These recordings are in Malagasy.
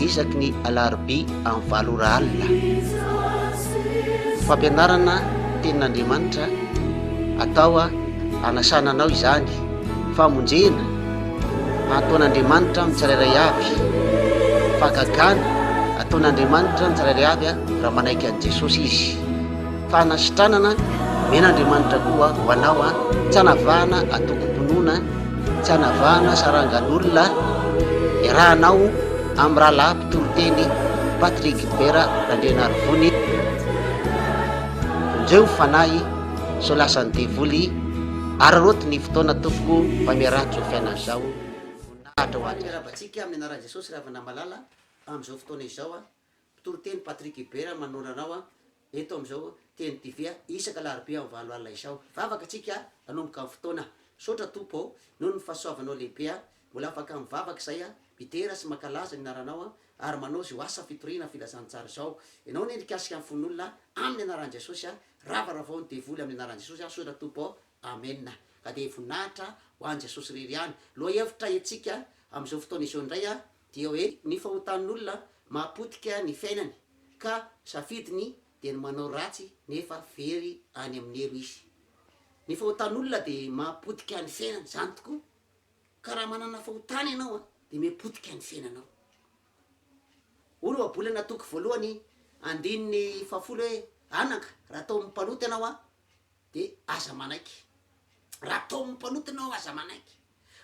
isaky ny alarobia amin'ny valo ora alina. Fampianarana tenin'Andriamanitra atao hanasana anao izany, famonjena ataon'Andriamanitra amin'ny tsirairay avy, fagagana ataon'Andriamanitra amin'ny tsirairay avy raha manaiky an'i Jesosy izy. Fanasitranana, Omena Andriamanitra koa ho anao an, tsy anavahana atokom-pinoana, tsy anavahana sarangan'olona, iarahanao amin'ny rahalahy mpitoriteny Patrick Gilbert Randrianarivony, vonjeo fanahy sao lasan'ny devoly, araraoty ny fotoana tompoko mba miaraha-tsoa fiainana zao, voninahitra ho Azy. Miarabantsika amin'ny anaran'i Jesosy Ravanamalala amin'izao fotoana izao an, Mpitoriteny Patrick Hubert manondro anao an, eto amin'izao Teny TV isaka alarobia amin'ny valo alina izao. Hivavaka antsika hanomboka ny fotoana. Misaotra Tompo ô, noho ny fahasoavanao lehibe aho mbola afaka mivavaka izay aho, midera sy mankalaza ny anaranao an, ary manao izao asa fitoriana filazantsara izao. Ianao anie nikasika ny fon'olona amin'ny anaran'i Jesosy an, ravaravao ny devoly amin'ny anaran'i Jesosy aho sotra Tompo ô, Amena. Ka dia voninahitra ho an'i Jesosy irery ihany. Lohahevitra entsika amin'izao fotoana izao indray an, Dia hoe ny fahotan'olona mahapotika ny fiainany ka safidiny dia ny manao ratsy nefa very any amin'ny helo izy. Ny fahotan'olona dia mahapotika ny fiainany, izany tokoa, ka raha manana fahotana ianao dia mipotika ny fiainanao. Hoy ny ohabolana toko voalohany andininy fahafolo hoe, Anaka, raha tao amin'ny mpanota ianao dia aza manaiky. Raha tao amin'ny mpanota ianao aza manaiky.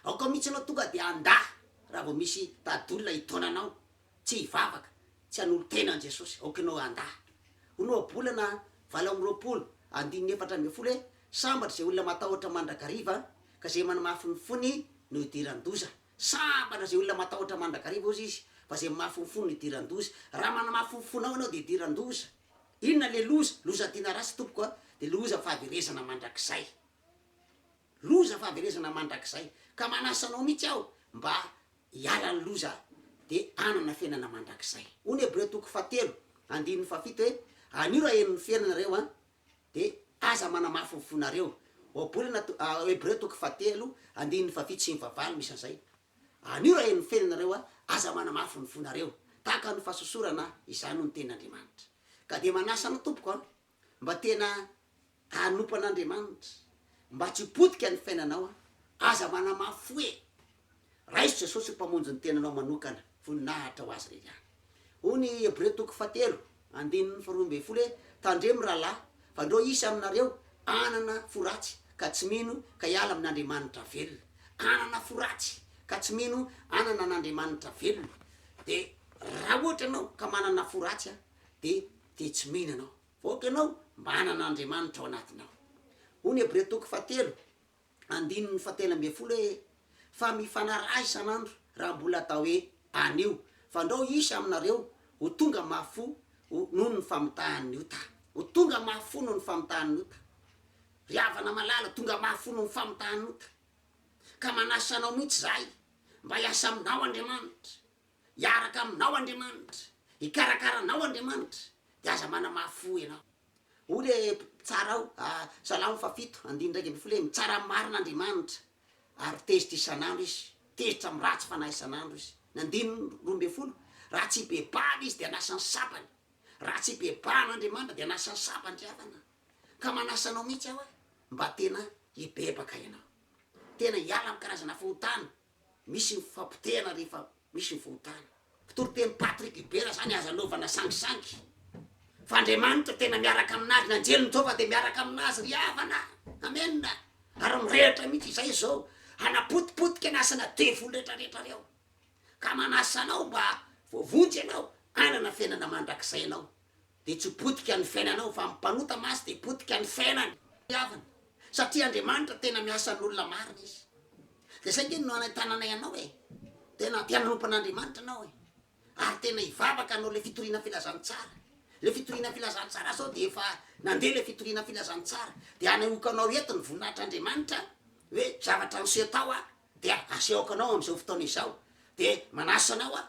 Aoka mihitsy anao tonga dia handà raha vao misy dadolona hitaona anao tsy hivavaka, tsy hanolo-tena an'i Jesosy, aoka ianao handà. Ho Nohabolana valo amby roapolo, andininy efatra ambin'ny folo hoe, Sambatra izay olona matahotra mandrakariva, ka izay manamafy ny fony no hidiran-doza. Sambatra izay olona matahotra mandrakariva, hozy izy, fa izay mamafy ny fony no hidiran-doza. Raha manamafy ny fonao ianao dia hidiran-doza. Inona ilay loza? Loza adina ratsy, tompoko a, dia loza fahaverezana mandrakizay. Loza fahaverezana mandrakizay. Ka manasa anao mihitsy aho mba hiala ny loza dia hanana fiainana mandrakizay. Hoy ny Hebreo toko fahatelo andininy fahafito hoe, Anio raha heno ny fiainana ianareo an, dia aza manamafy ny fonareo. Ohabolana to, Hebreo toko fahatelo andininy fahafito sy ny fahavalo misy an'izay. Anio raha heno ny fiainana ianareo an, aza manamafy ny fonareo. Tahaka ny fahasosorana izany hoy ny tenin'Andriamanitra. Ka dia manasa anao tompoko an, Mba tena hanompo an'Andriamanitra, mba tsy potika ny fiainanao an! Aza manamafy fo e! Raiso Jesosy ho Mpamonjy ny tenanao manokana, voninahitra ho Azy irery ihany. Hoy ny Hebreo toko fahatelo, andininy faharoa ambin'ny folo hoe, Tandremo rahalahy, fa ndreo hisy aminareo hanana fo ratsy ka tsy mino ka hiala amin'Andriamanitra velona. Hanana fo ratsy ka tsy mino hanana an'Andriamanitra velona. Dia raha ohatra ianao ka manana fo ratsy an, dia. dia tsy mino ianao, fa aoka ianao manana Andriamanitra ao anatinao. Hoy ny Hebrea toko fahatelo andininy fahatelo ambin'ny folo hoe, Fa mifanaraha isan'andro, raha mbola atao hoe, anio, fa ndrao hisy aminareo ho tonga mafy fo ho, noho ny famitahan'ny ota. Ho tonga mafy fo noho ny famitahan'ny ota. Ry havana malala, tonga mafy fo noho ny famitahan'ny ota. Ka manasa anao mihitsy izahay, mba hiasa aminao Andriamanitra. Hiaraka aminao Andriamanitra, hikarakara anao Andriamanitra, dia aza manamafy fo ianao. Hoy le mpitsara ao, Salamo fahafito andininy iraika ambin'ny folo hoe, Mitsara marina Andriamanitra, ary tezitra isan'andro Izy, tezitra amin'ny ratsy fanahy isan'andro Izy. Ny andininy roa ambin'ny folo, Raha tsy hibebahana Izy dia hanasa ny sabany, raha tsy hibebahana Andriamanitra dia hanasa ny sabany ry havana. Ka manasa anao mihitsy aho hoe, mba tena hibebaka ianao, tena hiala amin'ny karazana fahotana, Misy ny fipotehana rehefa misy ny fahotana. Kitoriteny Patrick Ibera zany aza anaovana sangisangy fa Andriamanitra tena miaraka aminazy ny anjeliny Jehovah dia miaraka aminazy ry havana Amen ary mirehitra mihitsy izay zao hanapotipotika ny asana devoly rehetra rehetra reo ka manasa anao mba voavonjy ianao hanana fiainana mandrakizay ianao dia tsy potika ny fiainanao fa ny mpanota masy dia potika ny fiainany. Havana. Satria Andriamanitra tena miasa an'olona marina izy. Dia izay nge no hanentananay anao e. Tena aty hanompan'Andriamanitra anao e. Ary tena hivavaka anao le fitoriana filazantsara. Le fitoriana filazantsara sao dia efa nandeha le fitoriana filazantsara. Dia hanehoako anao eto ny voninahitr'Andriamanitra hoe zavatra niseho tao aho dia asehoko anao amin'izao fotoana izao. Dia manasa anao aho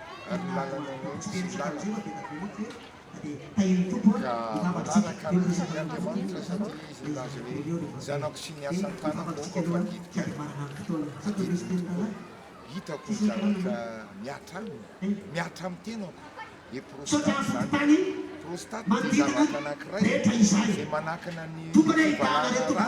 ary ny lalana anao tsy misy lalana, ka manaraka ny asan' Andriamanitra, satria izy nilaza hoe, Ny zanako sy ny asan' tanako aoka fa didiko, fa didiko tokoa, hitako ny zavatra mihatra aminy, mihatra amin'ny tenako, dia prostate izany, prostate dia zavatra anankiray izay manakana ny fivalana rà.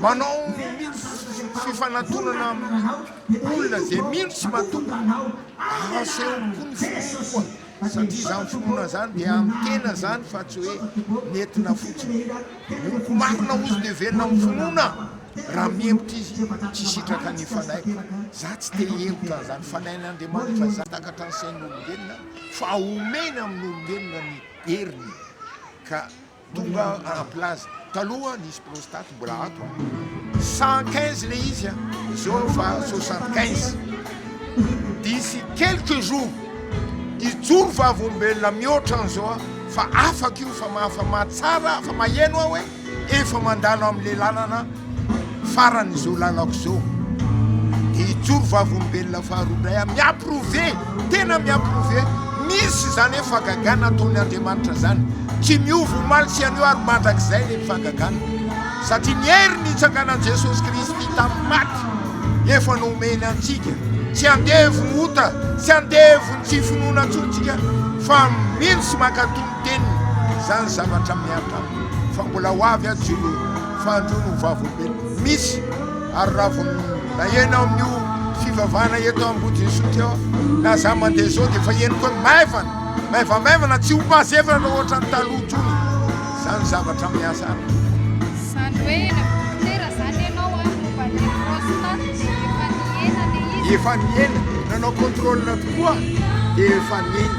manao fifanatonana amin'ny olona izay mino sy matoky, asehony koa ny finoany koa, satria izany finoana izany dia amin'ny tena izany fa tsy hoe nentina fotsiny. Omiko marina hozy dia velona amin'ny finoana raha mihemotra izy, tsy hisitraka ny fanaiko. Izaho tsy te hihemotra an'izany, fanahin'Andriamanitra izany, takatra ny sain'olombelona fa omeny amin'olombelona ny heriny ka. Tonga en place taloha nisy prostate mbola ato a. Cent quinze le izy a, zao efa soixante quinze. D'ici quelques jours hijoro vavolombelona mihoatra an'izao a, fa afaka io fa mahafa-mahatsara, afa-maheno aho hoe efa mandalo amin'ilay lalana. farany izao lalako izao dia hijoro vavolombelona faharoa indray aho mi-approuver tena mi-approuver misy izany hoe fagagana ataony Andriamanitra izany tsy miova omaly sy anio ary mandrakizay ilay fagagana satria ny hery nitsanganan'i Jesosy Kristy tamin'ny maty efa nomeny antsika tsy andevo ny ota tsy andevo ny tsy finoana intsony tsika fa mino sy mankato ny teniny izany zavatra miaritra aminy fa mbola ho avy azy Jehovah Fanjo no vavolombelona misy ary raha vao naheno aho amin'io fivavahana eto Ambodin'Isotry eo aho na za mandeha izao dia efa henoko hoe maivana, maivamaivana tsy ho mazevana ohatran'ny taloha intsony izany zavatra miasa amiko. Izany hoe eny amin'ny dokotera izany ianao ary momba ilay prostate dia efa nihena ilay izy? Efa nihena, nanao contrôle tokoa dia efa nihena.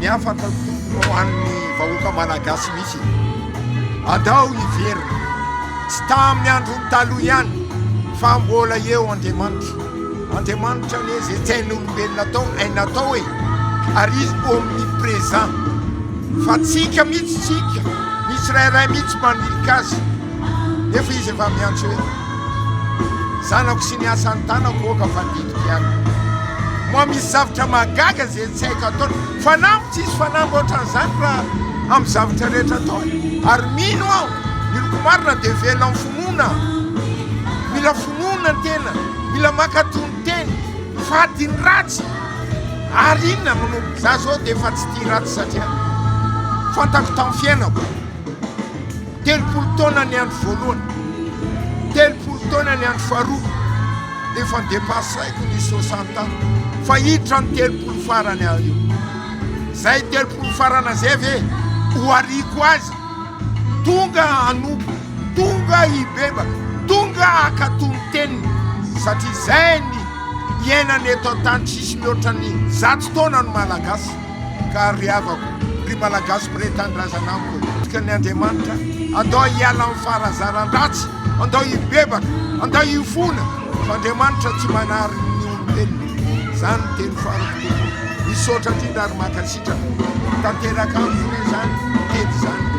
Ny afaka tombony ho an'ny vahoaka malagasy mihitsy e! Andao hiverina, tsy tamin'ny andron'ny taloha ihany fa mbola eo Andriamanitra. Andriamanitra anie izay tsy hain'olombelona atao, hainy atao e! Ary izy omnipresent. Fa tsika mihitsy, tsika, ny tsirairay mihitsy manilika azy, nefa izy efa miantso hoe. Zanako sy ny asan'ny tanako oka fa didiko ihany Moa misy zavatra mahagaga izay tsy haiko ataony Fanamby tsisy fanamby ohatran'izany raha amin'ny zavatra rehetra ataony Ary mino aho miloko marina dia velona amin'ny finoana Mila finoana ny tena Mila mankatò ny teny Fady ny ratsy Ary inona no no Za zao dia efa tsy tia ratsy satria Fantako tamin'ny fiainako Telopolo taona ny andro voalohany, telopolo taona ny andro faharoa, dia efa depasaiko ny soixante ans, fa hiditra ny telopolo farany aho io. Zay telopolo farana zay ve ho ariako azy? Tonga hanompo, tonga hibebaka, tonga hakato ny teniny, satria zay ny iainana eto an-tany tsisy mihoatra ny zato taona ny Malagasy. ka ry havako, ry Malagasiko, ry Tanindrazana amiko. Toky ny Andriamanitra, andao hiala amin'ny faharazaran-dratsy, andao hibebaka, andao hifona, fa Andriamanitra tsy manary ny olombelona. Izany no teny farako tompoko. Misaotra indrindra ary mankasitraka. Tanteraka amiko anie izany teny izany.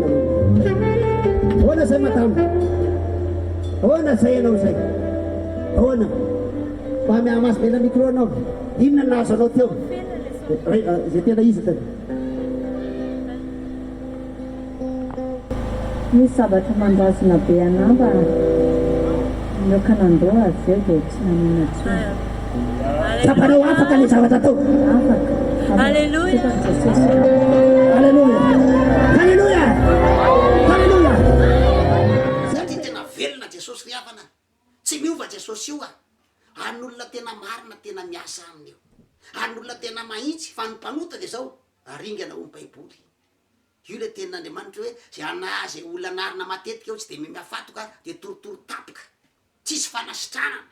Ahoana izay madama? Ahoana izay ianao izay? Ahoana? Mba mihamaso be ilay micro anao. Inona no nahazo anao teo? Re- ah, Izay tena izy tena. Misy zavatra mandrazona be anà mba nihoaka nandoa, zay vao Tsy nanina intsony. Tsapanao afaka le zavatra ataoko. Afaka. Alléluia. Alléluia. Alléluia. Alléluia. Zay ty tena velona Jesosy ry havana a. Tsy miova Jesosy io a. An'olona tena marina tena miasa aminy io. An'olona tena mahintsy fa ny mpanota dia zao aringana ho ny baiboly. Io le tenin'Andriamanitra hoe zay ana zay olona anarina matetika eo tsy dia mimihafatoka dia torotoro tapoka. Tsisy fanasitranana.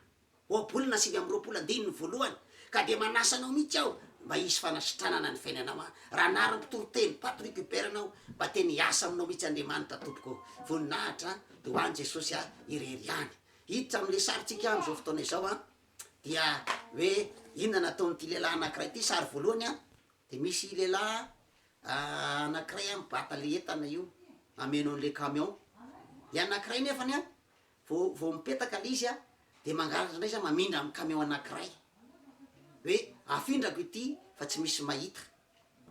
Ohabolana sivy amby roapolo andininy voalohany, ka dia manasa anao mihitsy aho mba hisy fanasitranana ny fiainanao an! Raha anarany mpitoriteny Patrick Hubert anao, mba tena hiasa aminao mihitsy Andriamanitra tompoko ô! Voninahitra an! Dia ho an'i Jesosy an! Irery ihany. Hiditra amin'ilay sarintsika amin'izao fotoana izao an! Dia hoe inona no ataon'ity lehilahy anankiray ity? Sary voalohany an! Dia misy lehilahy anankiray an mibata ilay entana io hameno an'ilay camion. Dia anankiray nefany an! Vao vao mipetaka le izy a, de mangalatra indray za mamindra amin'ny camion anakiray hoe afindrako ity fa tsy misy mahita,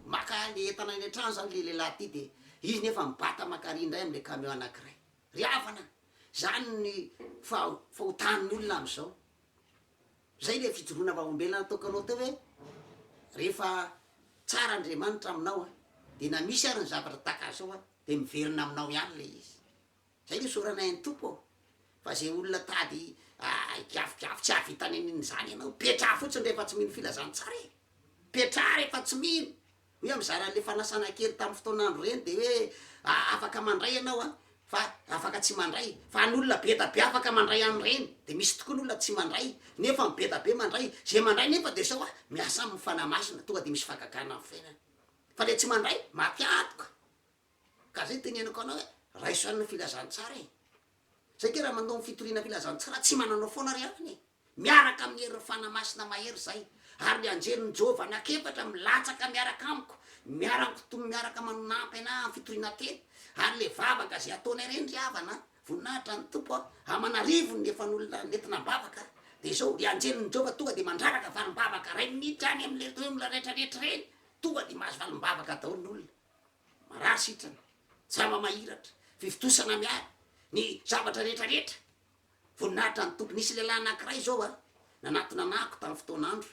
maka le entana eny an-trano zany le lehilahy ity de izy nefa mibata mankary indray amle camion anakiray, ry havana zany ny faha- fahotan'ny olona amzao, zay le fijoroana vahaombelona nataokanao teo hoe rehefa tsara Andriamanitra aminao a, de na misy ary ny zavatra tahaka zao a de miverina aminao ihany le izy. Zay no isaoranay an'i Tompo ô! Fa ze olona tady higiavigiavy tsy hahavita ny an'iny zany ianao, petraha fotsiny rehefa tsy mino filazantsara e! Petraha rehefa tsy mino! Hoe mizara an'le fanasana kely tamin'ny fotoan'andro ireny de hoe afaka mandray ianao an! Fa afaka tsy mandray! Fa an'olona bedabe afaka mandray an'ireny! De misy tokoa ny olona tsy mandray nefa ny bedabe mandray! Ze mandray nefa de sao a! Miasa aminy ny Fanahy Masina tonga de misy fagagana amin'ny fiainany! Fa le tsy mandray maty antoka! Ka zay teneniko anao hoe raiso any ny filazantsara e! Zay nge raha mandao ny fitoriana filazantsara tsy mananao foana ry havana e! Miaraka amin'ny herin'ny Fanahy Masina mahery zay ary ny anjelin'i Jehovah anak'efatra milatsaka miaraka amiko miara-mikitombo miaraka manampy anay amin'ny fitoriana tena ary le vavaka zay ataonay reny ry havana a! Voninahitra ny Tompo a! Aman'arivony ny efan'olona nentina am-bavaka dia zao ry anjelin'i Jehovah tonga dia mandraraka valim-bavaka ray minitra any amin'ireny olona retraretra ireny tonga dia mahazo valim-bavaka daholo ny olona. Marary sitrana, jamba mahiratra, fivontosana miaro ny zavatra rehetra rehetra. Voninahitra ny Tompo. Nisy lehilahy anankiray izao a, nanatona anako tamin'ny fotoana andro,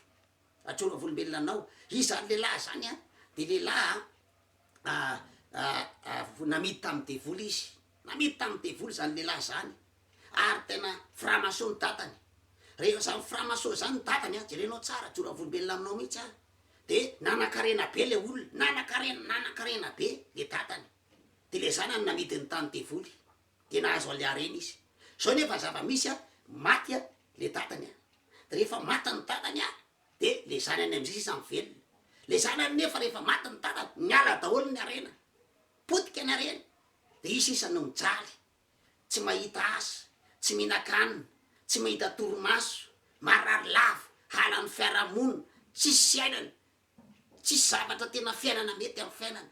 Rajoe Ravolombelona anao. Izany lehilahy izany a, dia lehilahy a, a, a, a, namidy tamin'ny devoly izy. Namidy tamin'ny devoly izany lehilahy izany. Ary tena framaso ny dadany. Rehefa izany framaso izany ny dadany a, jerenao tsara, joravolombelona aminao mihitsy a, dia nanankarena be ilay olona, nanankarena, nanankarena be ilay dadany, dia ilay zanany namidy ny tany devoly, dia nahazo an'ilay harena izy. Izao nefa ny zava-misy a, maty a, ilay dadany a, dia rehefa maty ny dadany a, dia ilay zanany amin'izay sisa mivelona. Ilay zanany nefa rehefa maty ny dadany, niala daholo ny harena, potika ny harena, dia izy sisa no mijaly. tsy mahita asa, tsy mihinan-kanina, tsy mahita torimaso, marary lava, halan'ny fiarahamonina, tsisy fiainana, tsisy zavatra tena fiainana mety amin'ny fiainany.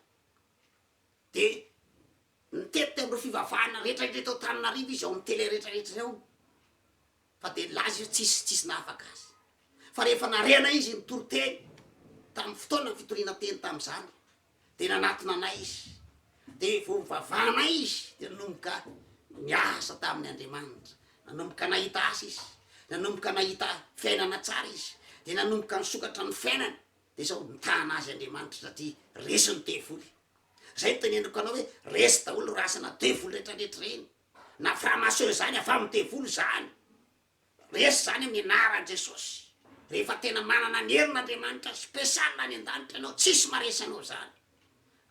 Dia nitety an'ireo fivavahana rehetra indray tao Antananarivo izy ao amin'ny tele rehetra rehetra ao. Fa dia nilaza izy hoe tsisy tsisy nahafaka azy. Fa rehefa narehana izy nitory teny tamin'ny fotoana fitoriana teny tamin'izany dia nanatona anay izy. Dia vao nivavahanay izy dia nanomboka niasa tamin'ny Andriamanitra. Nanomboka nahita asa izy. Nanomboka nahita fiainana tsara izy. Dia nanomboka nisokatra ny fiainany. Dia sao nitana azy Andriamanitra satria resin'ny devoly. Izay no teneniko anao hoe resy daholo rasana devoly rehetra rehetra ireny. Na franc-maçon izany afa amin'ny devoly izany. Resy izany amin'ny anaran'i Jesosy. Rehefa tena manana ny herin' Andriamanitra special any an-danitra ianao tsisy maresy anao izany.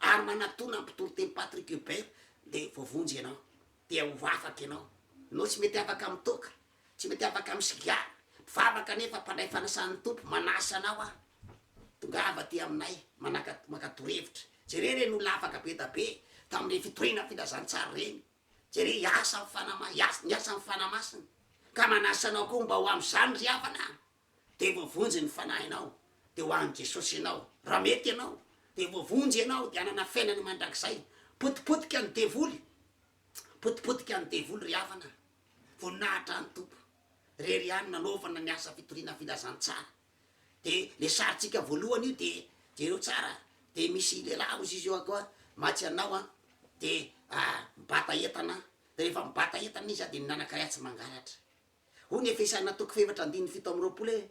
Ary manatona ny mpitory teny Patrick Hubert dia voavonjy ianao. Dia ho afaka ianao. Ianao tsy mety afaka amin'ny toaka. Tsy mety afaka amin'ny sigara. Mpivavaka nefa mpandray fanasan'ny Tompo, manasa anao aho, tongava aty aminay, manaka, maka torohevitra. Jereo ireny olona afaka be dia be tamin'ireny fitoriana filazantsara ireny. Jereo hiasa amin'ny Fanahy Ma, hiasa, niasa amin'ny Fanahy Masina. Ka manasa anao koa mba ho amin'izany ry havana a! Dia voavonjy ny fanahinao, dia ho an'i Jesosy ianao. Raha mety ianao, dia voavonjy ianao, dia hanana fiainana mandrakizay. Potipotika ny devoly, potipotika ny devoly ry havana a! Voninahitra ny Tompo. Rery ihany nanaovana ny asa fitoriana filazantsara de le sarintsika voalohany io de jereo tsara a de misy lehilahy ozy izy eo akoa matsy anao a de mibata entana de rehefa mibata entana izy a de minanakay atsy mangalatra hoy ny efesaina toko fahefatra andininy fito amby roapolo hoe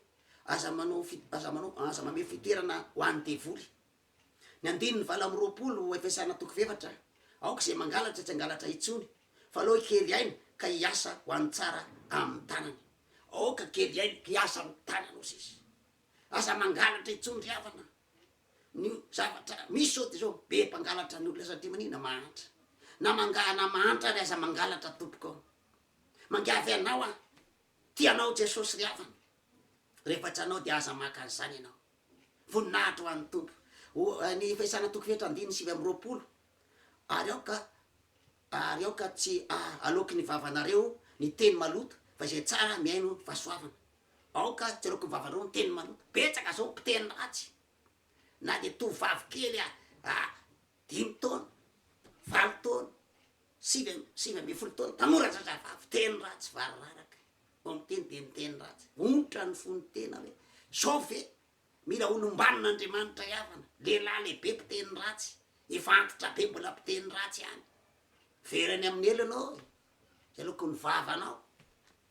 aza manao aza manao aza mamehy fitoerana ho any devoly Ny andininy valo amby roapolo efesana toko f'efatra, Aoka izay mangalatra tsy hangalatra intsony, fa aleo hikely aina ka hiasa ho an'ny tsara amin'ny tanany. Aoka hikely aina ka hiasa amin'ny tanany, hoy Jesosy. Aza mangalatra intsony ry havana. Ny zavatra misy izao dia izao, be mpangalatra ny olona satria maninona? Mahantra. Na manga- na mahantra ary aza mangalatra tompoko ô. Mangiavy anao aho. Tia anao Jesosy ry havana. Rehefa tsy anao dia aza maka an'izany ianao. Voninahitra ho an'ny Tompo. Ho an'ny fahisana toko efatra andininy sivy amby roapolo, Ary aoka, ary aoka tsy haloaky ny vavanareo ny teny maloto, fa izay tsara mihaino fahasoavana. Aoka tsy haloaky ny vavanareo ny teny maloto. Betsaka izao ny mpiteny ratsy, na dia tovovavy kely dimy taona, valo taona, Sivy amby sivy ambin'ny folo taona, tanora zazavavy, teny ratsy, variraraka, vao miteny dia miteny ratsy, onitra ny fony tena hoe zao ve mila olombanin' Andriamanitra hiavana, lehilahy lehibe mpiteny ratsy, efa antitra be mbola mpiteny ratsy ihany, very any amin'ny helony ô! Zay loko ny vavanao.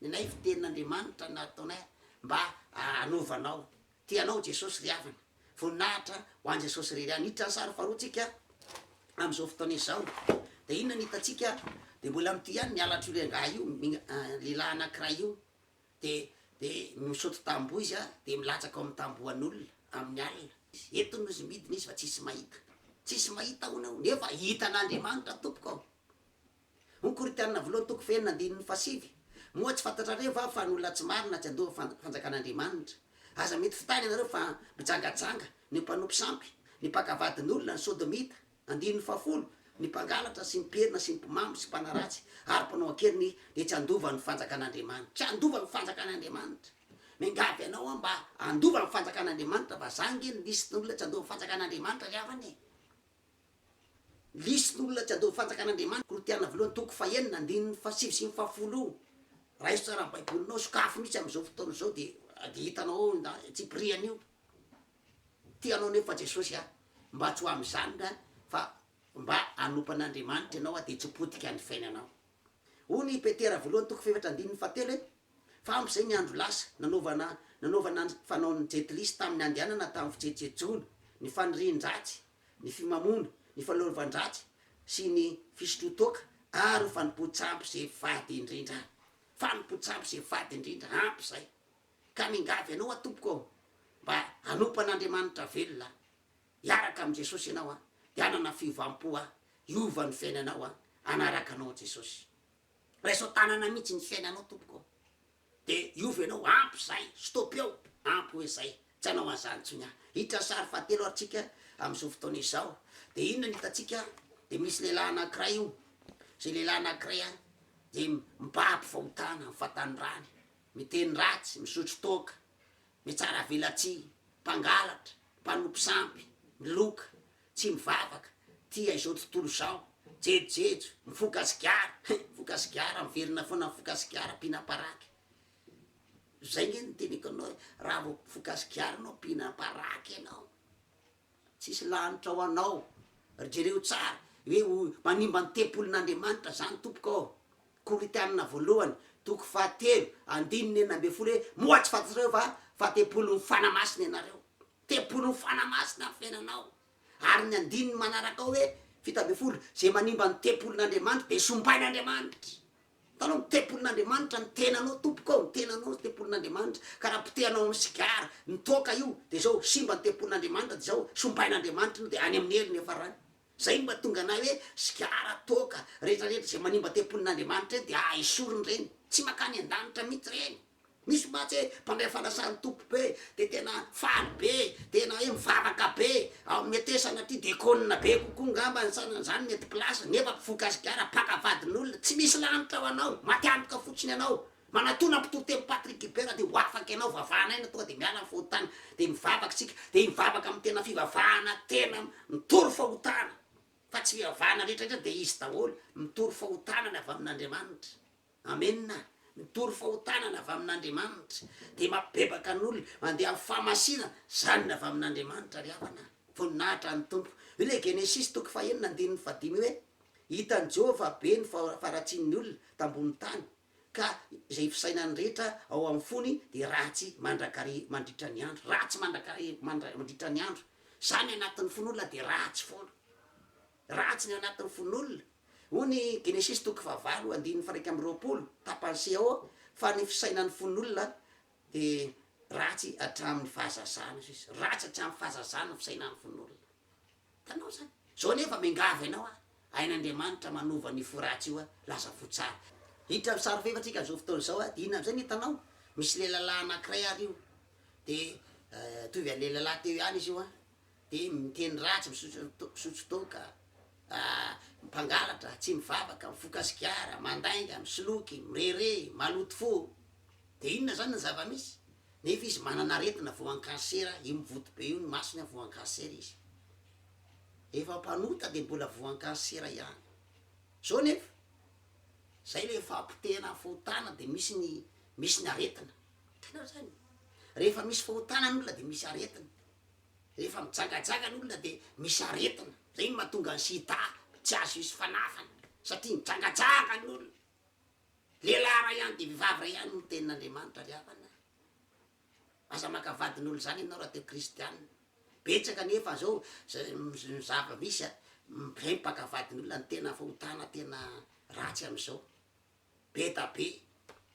Ilay fitenin'Andriamanitra nataonay mba hanovanao. Tia anao Jesosy ry havana. Voninahitra ho an'i Jesosy irery ihany. Hiditra ny sary faharoa tsika amin'izao fotoana izao. Dia inona no hitantsika? Dia mbola amin'ity ihany ny halatr'io lehilahy io, lehilahy anankiray io. Dia, dia misaoty tamboho izy an, dia milatsaka ao amin'ny tambohon'olona, amin'ny alina. Eto no izy midina izy fa tsisy mahita. Tsisy mahita hono eo. Nefa hitan'Andriamanitra tompoko ao. Ho Koritianina Voalohany toko fahenina andininy fahasivy, Moa tsy fantatrareo va fa ny olona tsy marina tsy handoa ny fanjakan'Andriamanitra? Aza mety fitany ianareo fa mijangajanga ny mpanompo sampy, ny mpaka vadin'olona, ny sodomita, andininy fahafolo, ny mpangalatra sy ny mpiherina sy ny mpimamo sy mpanaratsy ary mpanao an-keriny dia tsy handova ny fanjakan'Andriamanitra. Tsy handova ny fanjakan'Andriamanitra. Miangavy anao aho mba handova ny fanjakan'Andriamanitra fa zany nge ny lisitn'olona tsy handoa ny fanjakan'Andriamanitra ry havana e! Lisin'olona tsy adino fatraka an'Andriamanitra, Korotiana voalohany toko fahenina andininy fahasivy sy ny fahafolo, raiso tsara ny baibolinao, sokafy mihitsy amin'izao fotoana izao dia dia hitanao ao ny antsipiriany io, tia anao nefa Jesosy a, mba tsy ho amin'izany nga fa mba hanompo an'Andriamanitra ianao a dia tsy ho potika ny fiainanao, hoy ny Petera voalohany toko fahefatra andininy fahatelo hoe, Fa ampy izay ny andro lasa, nanaovana nanaovana ny fanaon'ny Jet Lis tamin'ny handehanana tamin'ny fijejojejoana, ny fanirian-dratsy, ny fimamoana, ny fahaleovan-dratsy sy ny fisotroan-toaka ary ho fanompoan-tsampy izay fady indrindra. Fanompoan-tsampy izay fady indrindra, ampy izay. Ka mingavy anao aho Tompoko ô, mba hanompo an'Andriamanitra velona aho. Hiaraka amin'i Jesosy ianao aho, dia hanana fiovam-po aho, hiova ny fiainanao aho, hanaraka Anao Jesosy. Raiso tanana mihitsy ny fiainanao tompoko ô! de hiova ianao, ampy izay, stop eo, ampy hoe izay, tsy hanao an'izany intsony aho, hiditra sary fahatelo ary tsika amin'izao fotoana izao, de inona no hitantsika, de misy lehilahy anakiray io, zay lehilahy anakiray a, de mibaby fahotana amin'ny fahatanorany, miteny ratsy, misotro toaka, mitsara velatsihy, mpangalatra, mpanompo sampy, miloka, Tsy mivavaka, tia izao tontolo izao, jejojejo, mifoka sigara, hein, mifoka sigara, miverina foana mifoka sigara, mpihina paraky. Zay nge no teneniko aminao hoe, raha vao mpifoka sigara enao, mpihina paraky enao, tsisy lanitra ho anao, ry jereo tsara, hoe ho manimba ny tempolin'Andriamanitra zany tompoko ao, Korintiana voalohany toko fahatelo andininy enina ambin'ny folo hoe, moa tsy fantatrareo va fa tempolin'ny Fanahy Masina ianareo, Tempolin'ny Fanahy Masina ny fiainanao. Ary ny andininy manaraka ao hoe fito ambin'ny folo, izay manimba ny tempolin'Andriamanitra dia sombain'Andriamanitra. Hitanao, ny tempolin'Andriamanitra ny tenanao tompoko ao, ny tenanao ny tempolin'Andriamanitra, ka raha potehanao amin'ny sigara, ny toaka io, dia izao, simba ny tempolin'Andriamanitra, dia izao, sombain'Andriamanitra ianao, dia any amin'ny helony hiafarany. Zay no mahatonga anay hoe sigara, toaka, retraretra izay manimba tempolin'Andriamanitra ireny dia esoriny ireny. Tsy mankany an-danitra mihitsy ireny. Misy mantsy hoe mpandray fanasan'ny Tompo be dia tena faly be, tena hoe mivavaka be, mety hoe sanatria dekôna be kokoa ngamba ny sanany zany mety place, nefa mpivoka sigara, mpaka vadin'olona, tsy misy lanitra ho anao, maty antoka fotsiny ianao. Manatona mpitoroteny Patrick Guibert dia ho afaka ianao vavahana aina tonga dia miala ny fahotana dia mivavaka isika dia hivavaka amin'ny tena fivavahana tena mitory fahotana fa tsy fivavahana rehetra rehetra dia izy daholo mitory fahotana ny avy amin'Andriamanitra amena mitory fahotana ny avy amin'Andriamanitra dia mapibebaka ny olona mandeha amin'ny fahamasinana izany ny avy amin'Andriamanitra ry havana voninahitra ny Tompo io le Genesisy toko fahenina andininy fahadimy hoe hitan'i Jehovah be ny faharatsian'ny olona tambonin'ny tany ka izay fisainany rehetra ao amin'ny fony dia ratsy mandrakariv mandritra ny andro, ratsy mandrakariv mandra mandritra ny andro, izany anatin'ny fon'olona dia ratsy foana, ratsy ny ao anatin'ny fon'olona, hoy ny Genesisy toko fahavalo andininy faharaika amby roapolo, tapany CAO, fa ny fisainan'ny fon'olona dia ratsy hatramin'ny fahazazana, hoy izy, ratsy hatramin'ny fahazazana ny fisainan'ny fon'olona. Hitanao zany? Zao nefa miangavy anao aho, hain'Andriamanitra manova an'io fo ratsy io aho, lasa fo tsara. Hiditra amin'ny sary fahefan-tsika amin'izao fotoana izao aho, dia inona amin'izay no hitanao? Misy lelalahy anankiray ary io, dia mitovy an'ny lelalahy teo ihany izy io an, dia miteny ratsy, misotro to- misotro toaka, mpangalatra, tsy mivavaka, mifoka sigara, mandainga, misoloky, mirehareha, maloto fo. Dia inona izany no zava-misy? Nefa izy manana aretina voankarsera io mivonto be io ny masony an voankarsera izy efa mpanota de mbola voankarsera ihany zao nefa zay le fahapotehana fahotana de misy ny misy ny aretina itanao zany rehefa misy fahotana ny olona de misy aretina rehefa mijagajanga ny olona de misy aretina zay no mahatonga ny sida tsy azo hisy fanafana satria mijagajanga ny olona. Lehilahy iray ihany dia vehivavy iray ihany no tenin'Andriamanitra ry havana a! Aza maka vadin'olo zany ianao raha te kristianina, betsaka anefa zao ny zava misy a, mpaka vadin'olona ny tena fahotana tena ratsy amzao, be da be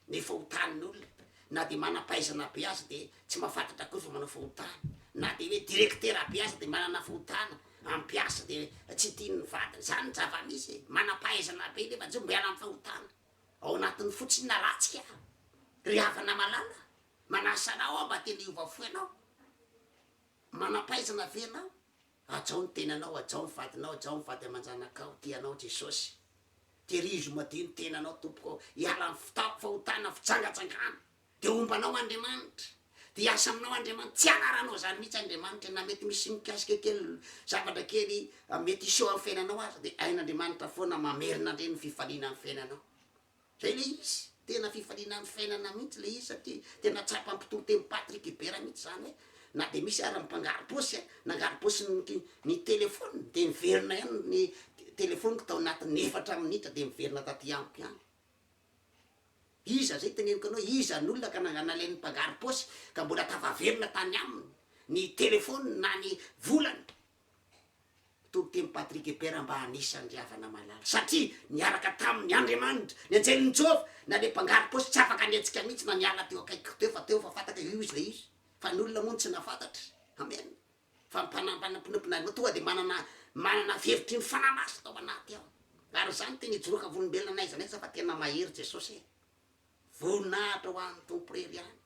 ny fahotan'olona, na dia manampahaizana be aza dia tsy mahafantatra akory fa manao fahotana, na dia hoe directeur be aza dia manana fahotana, Mampiasa de tsy tian'ny vadiny zany ny zavamisy e! Manampahaizana be nefa tsy mbo hiala am fahotana ao anatiny fotsiny na ratsy ka! Ry havana malala manasa anao aho mba tena hiova fo ianao! Manampahaizana ve ianao? Hajao ny tenanao, hajao ny vadinao, hajao ny vady aman-janakao, tia anao Jesosy! Tehirizo madio ny tenanao tompoko ao, hiala am fahotana, fijangajangana! Dia homba anao Andriamanitra. Dia hiasa aminao Andriamanitra. Tsy hanaranao izany mihitsy Andriamanitra na mety misy mikasika kely zavatra kely mety hiseho amin'ny fiainanao aza dia hain'Andriamanitra foana mamerina indray ny fifaliana amin'ny fiainanao. Izay ilay izy. Tena fifaliana amin'ny fiainana mihitsy ilay izy satria tena tsapan'ny mpitory teny Patrick Ebert mihitsy izany hoe na dia misy ary ny mpangarom-paosy nangarom-paosy ny ny telefaoniny dia niverina ihany ny telefaoniko tao anatin'ny efatra minitra dia niverina taty amiko ihany. Iza izay teneniko anao? Iza ny olona ka nalain'ny mpangaro paosy ka mbola tafaverina tany aminy ny telefoniny na ny volany? Toriteny Patrick Eper mba hanisa an'i Riavanamalala satria niaraka taminy Andriamanitra, ny anjelin'i Jehovah, na le mpangaro paosy tsy afaka nihetsika mihitsy na niala teo akaikiko teo fa teo fa fantako io izay izy fa ny olona moa no tsy nahafantatra. Amen. Fa mpanambana mpinompinareo tonga dia manana manana fihevitry ny fanahy masina ao anaty ao. Ary izany tena ijoroka volombelona n'aiza n'aiza fa tena mahery Jesosy e! Voninahitra ho an'ny Tompo Irery ihany.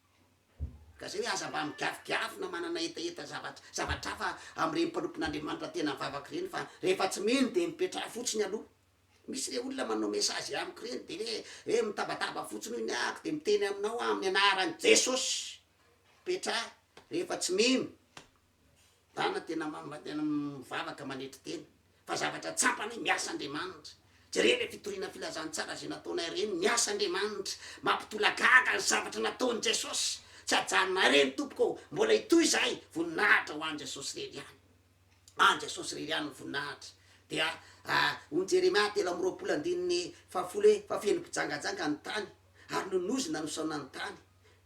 Ka izay hoe aza mba migavigavi na manana hetaheta zavatra zavatra hafa amin'ireny mpanompon'Andriamanitra tena mivavaka ireny fa rehefa tsy mino dia mipetraha fotsiny aloha Misy le olona manao message amiko reny de hoe hoe mitabataba fotsiny hoy ny ahako de miteny aminao aho amin'ny anaran'i Jesosy petra rehefa tsy mino dana tena tena mivavaka manetry tena fa zavatra tsampana hoe miasa Andriamanitra jereo le fitoriana filazantsara zay nataonay reny miasa Andriamanitra mampitolagaga ny zavatra nataon'i Jesosy tsy ajanonay reny tompoko mbola hitohy zahay voninahitra ho an'i Jesosy reny ihany An Jesosy irery ihany ny voninahitra. Dia hoy Jeremia telo amby roapolo andininy fahafolo hoe, Fa feno mpijangajanga ny tany, ary nonozona no saona ny tany.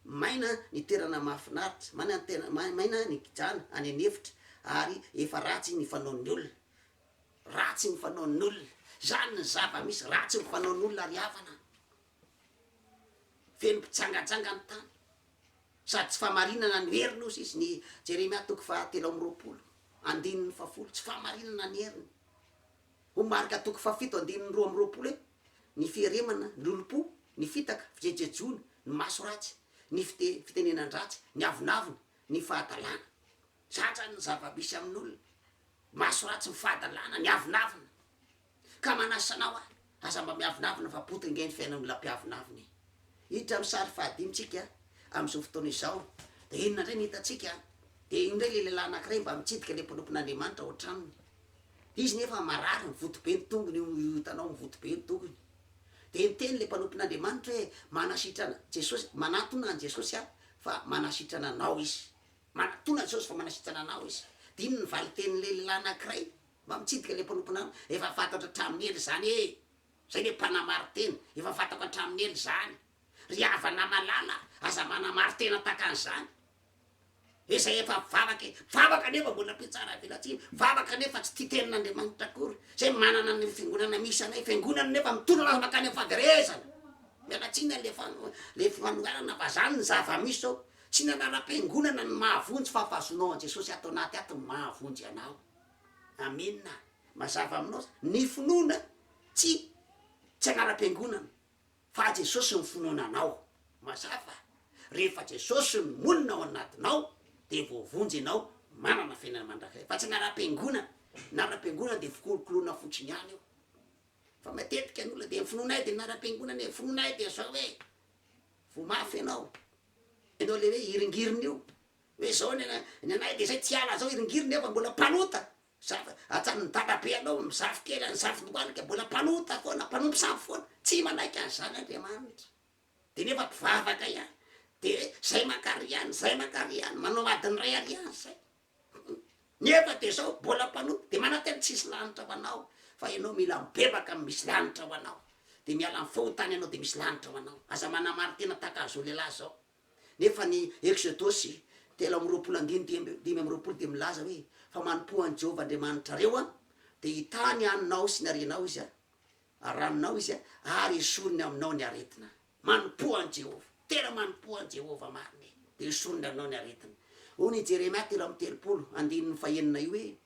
Maina ny toerana mahafinaritra, maina ny tena, maina ny kijana any an'efitra, ary efa ratsy ny fanaon'ny olona. Ratsy ny fanaon'ny olona. Izany ny zava-misy, ratsy ny fanaon'ny olona ry havana. Feno mpijangajanga ny tany sady tsy fahamarinana ny heriny hozy izy, ny Jeremia toko faha telo amby roapolo andininy faha folo, tsy fahamarinana ny heriny, ho Marka toko faha fito andininy roa amby roapolo hoe, ny fieremana, ny lolompo, ny fitaka, fijejejoana, ny maso ratsy, ny fite, fitenenan-dratsy, ny avonavona, ny fahadalana. Zany zany ny zava-misy amin'olona, maso ratsy, ny fahadalana, ny avonavona. Ka manasa anao aho, aza mba miavonavona fa bota ange ny fiainan'olona mpiavonavona e! Hiditra amin'ny sary fahadimy tsika amin'izao fotoana izao, dia inona indray no hitantsika? Dia io indray ilay lehilahy anankiray mba mitsidika ilay mpanompon'Andriamanitra ao an-tranony. Izy nefa marary, mivoto be ny tongony, io hitanao mivoto be ny tongony. Dia niteny ilay mpanompon'Andriamanitra hoe, Manasitrana Jesosy, manatona an'i Jesosy aho fa manasitrana anao izy. Manatona an'i Jesosy fa manasitrana anao izy. Dia inona ny valintenin'ilay lehilahy anankiray? Mba mitsidika ilay mponomponana efa fantatro hatramin'ny ela izany ee! Zay le mpanamaritena, efa fantako hatramin'ny ela izany! Ry havana malala aza manamaritena takan'izany e! Zay efa vavaka e! Vavaka nefa mbola mpitsara velatsihy, vavaka nefa tsy tia tenin'Andriamanitra akory! Zay manana ny fiangonana misy anay, fiangonana nefa mitolona aza mankany amin'ny fahaverezana! Miala tsiny a! le fan, le fanoherana fa zany ny zava-misy zao! Tsy ny anaram-piangonana no mahavonjy fa fahazoanao an'i Jesosy ato anaty ato no mahavonjy anao! Amena. Mazava aminao zany. Ny finoana tsy tsy anaram-piangonana fa Jesosy no finoana anao. Mazava. Rehefa Jesosy no monina ao anatinao dia voavonjy ianao manana fiainana mandrakizay. Fa tsy anaram-piangonana. Ny anaram-piangonana dia fikolokoloana fotsiny ihany io. Fa matetika ny olona dia ny finoanay dia ny anaram-piangonana e, ny finoanay dia zao e. Voa mafy ianao. Ianao le hoe hiringirina io. Hoe zao ny anay, ny anay de zay tsy hiala zao hiringiry nefa mbola mpanota, safo, atsan'ny dalabe anao misafo kely any safo lohalika mbola mpanota foana, mpanompo safo foana, tsy manaiky an'zany Andriamanitra, de nefa mpivavaka ihany, de zay mankary ihany, zay mankary ihany, manao adiny ray alina zay, nefa de zao mbola mpanota, de manantena tsisy lanitra ho anao, fa enao mila mibebaka am misy lanitra ho anao, de miala am fahotana enao de misy lanitra ho anao, aza manamaro tena tahaka an'zao lehilahy zao. Nefa ny Eksodosy telo amby roapolo andininy dimy amby roapolo dia milaza hoe, Fa manompoa an'i Jehovah Andriamanitrareo, dia hitany anao sy ny harenao izy, ary ranonao izy, ary hesoriny aminao ny aretina. Manompoa an'i Jehovah. Tena manompoa an'i Jehovah marina e, dia hesoriny aminao ny aretina. Hoy i Jeremia telo amby telopolo, andininy fahenina io hoe,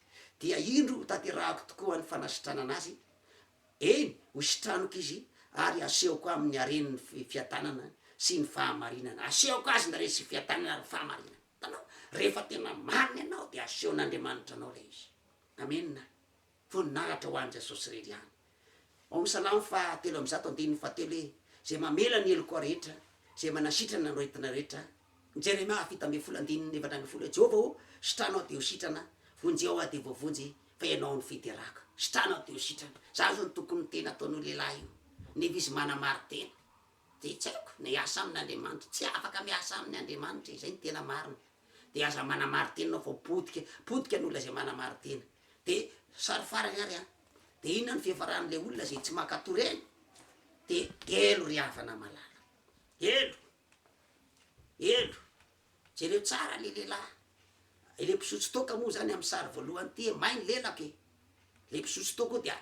Dia indro hotanterahako tokoa ny fanasitranana azy, Eny, ho sitraniko izy, ary hasehoko aminy hareny ny fiadanana sy ny fahamarinana. Hasehoko azy ny hareny sy ny fiadanana ary ny fahamarinana. Hitanao? Rehefa tena marina ianao, dia hasehon'Andriamanitra anao ilay izy. Amena. Voninahitra ho an'i Jesosy irery ihany. Ao amin'ny Salamo faha telo amby zato andininy faha telo hoe, Izay mamela ny heloka rehetra, Izay manasitrana ny aretina rehetra. Ny Jeremia fito ambin'ny folo andininy efatra ambin'ny folo hoe, Jehovah ô, sitranao dia ho sitrana, vonjeo aho dia voavonjy, Tenao ny fiteraka, sitranao teo sitrana, za zao ny tokony miteny ataon'io lehilahy io nefa izy manamarin-tena de tsy aiko na hiasa aminy Andriamanitra, tsy afaka miasa aminy Andriamanitra e, zay no tena marina, de aza manamarin-tena enao fa potika, potika ny olona zay manamarin-tena, de sary farany ary an, de inona no fiafaran'le olona zay tsy mankato reny? de helo ry havana malala, helo. Hendro, jereo tsara le lehilahy, le mpizotso toaka moa zany amin'ny sary voalohany ty e, may ny lelako e, le mpizotso toaka io dia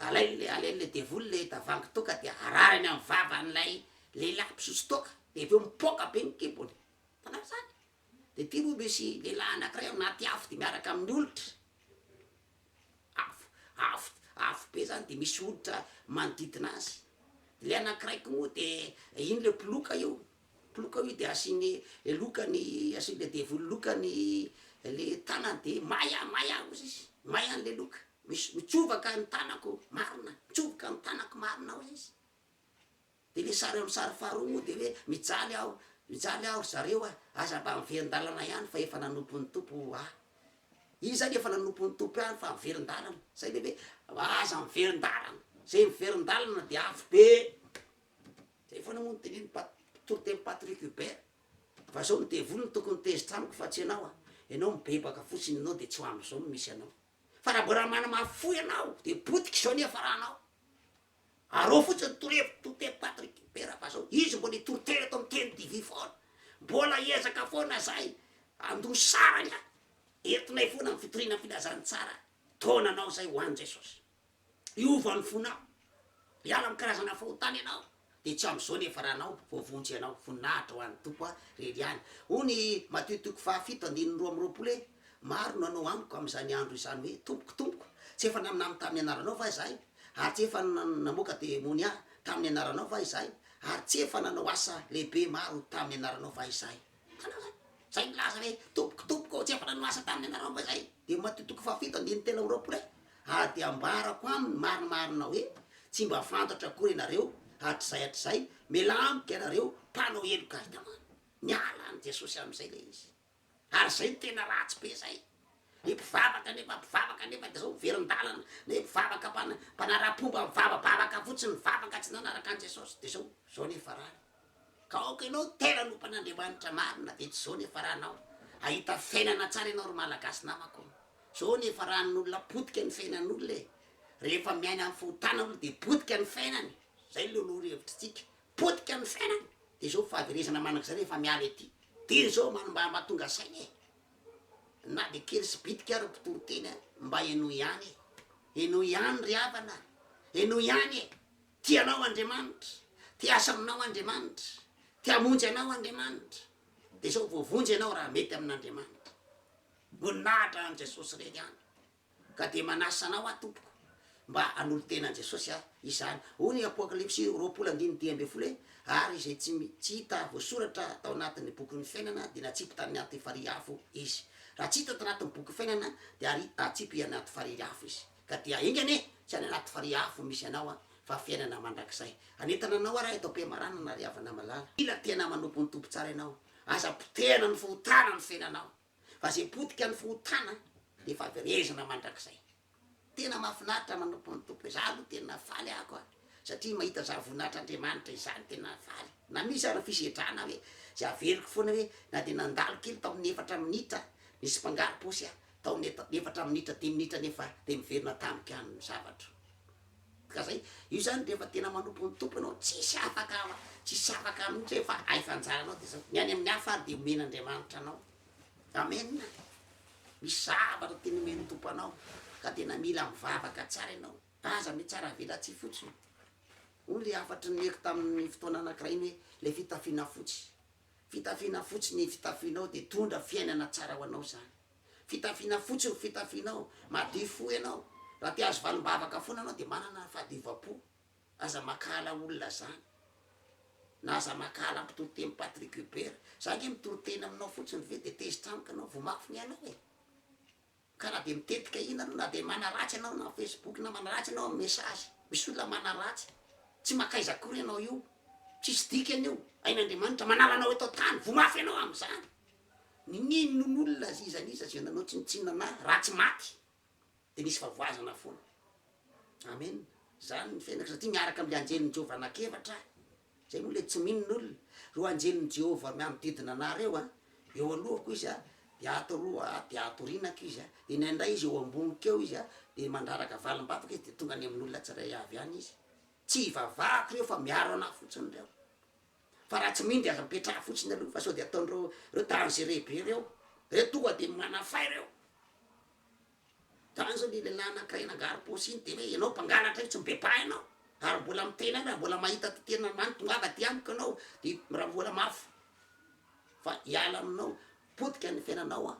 alainy alainy le devoly le tavoahangy toaka dia ararany amin'ny vavan'ilay lehilahy mpizotso toaka, de avy eo mipoaka be ny kibony, hitanao zany, de ty moa misy lehilahy anakiray ao anaty afo de miaraka amin'ny olitra. Afo, afo, afo be zany de misy hoditra manodidina azy, de le anakiray ko moa de iny le mpiloka io, mpiloka io de asiny loka ny, asiny le devoly loka ny le tanany de may a, may a ozy izy, may a le loka, misy mitsovaka ny tanako marina, mitsoboka ny tanako marina ozy izy. Dia le sary amin'ny sary faharoa moa dia hoe mijaly aho, mijaly aho ry zareo a, aza mba miverin-dalana ihany fa efa nanompo ny Tompo aho. Izy zany efa nanompo ny Tompo ihany fa miverin-dalana, zay le hoe aza miverin-dalana, zay miverin-dalana dia avy be, zay foana moa ny tenenin'i Pat- toritenin'i Patrick Hubert, fa zao ny devoly no tokony tezitra amiko fa tsy ianao a, ianao mibebaka fotsiny ianao dia tsy ho amin'izao no misy anao, fa raha mbola manamafy fo ianao dia potika izao ny hiafaranao. Arao fotsiny ny torohevitry Tote Patrick Bera fa zao, izy mbola hitory tena eto amin'ny Teny TV foana. Mbola hiezaka foana zahay handoa saranga entinay foana amin'ny fitoriana filazantsara taona anao zay ho an'i Jesosy. Hiova ny fonao, hiala amin'ny karazana fahotana ianao dia tsy amin'izao nefa raha anao voavonjy ianao. Voninahitra ho an'ny Tompo a! Reriany. Hoy ny Matio toko faha fito andininy roa amby roapolo hoe. Maro no hanao amiko amin'izany andro izany hoe, Tompoko, Tompoko, tsy efa naminany tamin'ny anaranao va izahay? Ary tsy efa namoaka demonia tamin'ny anaranao va izahay? Ary tsy efa nanao asa lehibe maro tamin'ny anaranao va izahay? Hitanao izany? Izay milaza hoe, Tompoko, Tompoko, tsy efa nanao asa tamin'ny anarao va izahay? Dia Matio toko fahafito andininy telo amby roapolo hoe, Ary dia ambarako aminy marimarina hoe, Tsy mba fantatra akory ianareo hatrizay hatrizay, miala amiko ianareo mpanao heloka. Hitanao? Niala an'i Jesosy amin'izay ilay izy. ary zay no tena ratsy be zay, ny mpivavaka nefa mpivavaka nefa de zao miverin-dalana, ny mpivavaka mpana- mpanara-pomba mivavabavaka fotsiny mivavaka tsy nanaraka an'i Jesosy de zao, zao ny farany, ka aoka ianao tena anompa an'Andriamanitra marina de tsy zao ny faranao, ahita fiainana tsara ianao ry Malagasy namako, zao ny faran'olona potika ny fiainan'olona e, rehefa miaina am fahotana olona de potika ny fiainany, zay loloha ry hevitritsika, Potika amin'ny fiainana dia izao fahaverezana manak'izay rehefa miala ety teny izao manimbamba tonga saina e! na dia kely sy bitika ary mpitory teny a! mba henoy ihany e! henoy ihany ry havana a! henoy ihany e! tia anao Andriamanitra, te hiasa aminao Andriamanitra, te hamonjy anao Andriamanitra, dia izao voavonjy ianao raha mety amin'Andriamanitra, voninahitra an'i Jesosy irery ihany. Ka dia manasa anao aho tompoko mba hanolo-tena an'i Jesosy aho izany, hoy ny Apokalypsy roapolo andininy dimy ambin'ny folo hoe, Ary izay tsy tsy hita voasoratra tao anatin'ny bokin'ny fiainana dia natsipy tany anaty farihy afo izy. Raha tsy hita tao anatin'ny bokin'ny fiainana dia ary hatsipy anaty farihy afo izy. Ka dia enga anie tsy any anaty farihy afo misy anao aho fa fiainana mandrakizay. Hanentana anao aho raheto am-piamaranana ry havana malala. Mila tena manompo ny Tompo tsara ianao. Aza potehana ny fahotana mifehy anao. Fa zay potika ny fahotana de faverezina mandrakizay. Tena mafinaritra manompo ny Tompo izaho aloha tena faly ako a! satria mahita zany voninahitr'Andriamanitra izany tena faly. Na misy ary ny fisedrana hoe zay averiko foana hoe na dia nandalo kely tao amin'ny efatra minitra nisy mpangaro-paosy aho tao amin'ny efatra minitra dimy minitra nefa dia niverina tamiko ihany ny zavatro. Ka zay, io zany rehefa tena manompo ny Tompo ianao, tsisy afaka, tsisy afaka mihitsy hoe fa hay fa anjaranao de zao, ny any amin'ny hafa ary de omen'Andriamanitra anao. Amen a! Misy zavatra tiany omen'ny Tompo anao, ka tena mila mivavaka tsara ianao, aza mitsara velatsihy fotsiny, hoy le hafatry ny omeko tamin'ny fotoana anakiray iny hoe, le fitafiana fotsy, fitafiana fotsy ny fitafianao de tondra fiainana tsara ho anao zany. Fitafiana fotsy no fitafianao, madio fo ianao, raha te ahazo valim-bavaka foana ianao dia manana fahadiovam-po, aza mankahala olona zany, na aza mankahala mpitory teny Patrick Hubert, za ange mitory teny aminao fotsiny ve dia tezitra amiko ianao, vao mafy ny anao e! ka na dia mitetika ina ianao, na dia manaratsy ianao na Facebook, na manaratsy ianao amin'ny message, misy olona manaratsy, tsy mankaiza akory ianao io, tsisy dikany io, hain'Andriamanitra, manala anao eto an-tany, vao mafy ianao amin'izany. Nino n'olona azy iza n'iza izay nanao tsinontsinona na ratsy maty dia nisy favoazana foana. Amen. Izany ny fiainako satria miaraka amin'ilay anjelin'i Jehovah anak'efatra aho. Izay moa ilay tsy mino ny olona. Ireo anjelin'i Jehovah mianodidina anà ireo an, eo alohako izy an, dia ato aloha an, dia ato aorianako izy an, dia indraindray izy eo amboniko eo izy an, dia mandraraka valim-bavaka izy dia tonga any amin'olona tsirairay avy any izy. Tsy ivavahako ireo fa miaro anà fotsiny ireo. fa raha tsy mindy aza mipetraha fotsiny aloha fa sao de ataon'ireo reo dangereux be reo, reo tonga de manafay reo, zany zao le lehilahy anakiray nangarom-paosy iny de hoe ianao mpangalatra io tsy mibebaha ianao ary mbola miteny any raha mbola mahita ty tenan'Andriamanitra tongava aty amiko ianao de raha mbola mafy fa hiala aminao potika ny fiainanao an.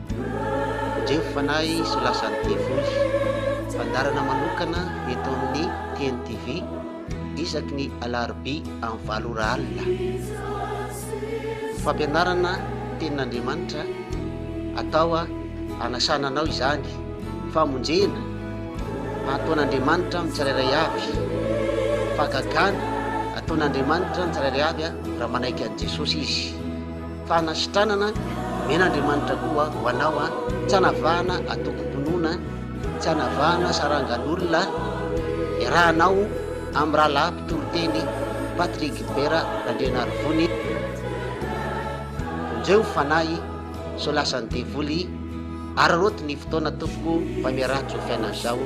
Tandremo fanahy sy ho lasan'ny devoly. Fandaharana manokana eto amin'ny TNTV isaky ny alarobia amin'ny valo ora alina. Ny fampianarana tenin'Andriamanitra atao hanasana anao izany, famonjena ataon'Andriamanitra amin'ny tsirairay avy, fahagagana ataon'Andriamanitra ny tsirairay avy raha manaiky an'i Jesosy izy. Fanasitranana, omena Andriamanitra koa ho anao an, tsy anavahana atokom-pinoana, tsy anavahana sarangan'olona, iarahanao amin'ny rahalahy mpitoriteny Patrick Gilbert Randrianarivony, vonjeo ny fanahy sao lasan'ny devoly, araraoty ny fotoana tompoko fa miaraha-tsofy anao izao,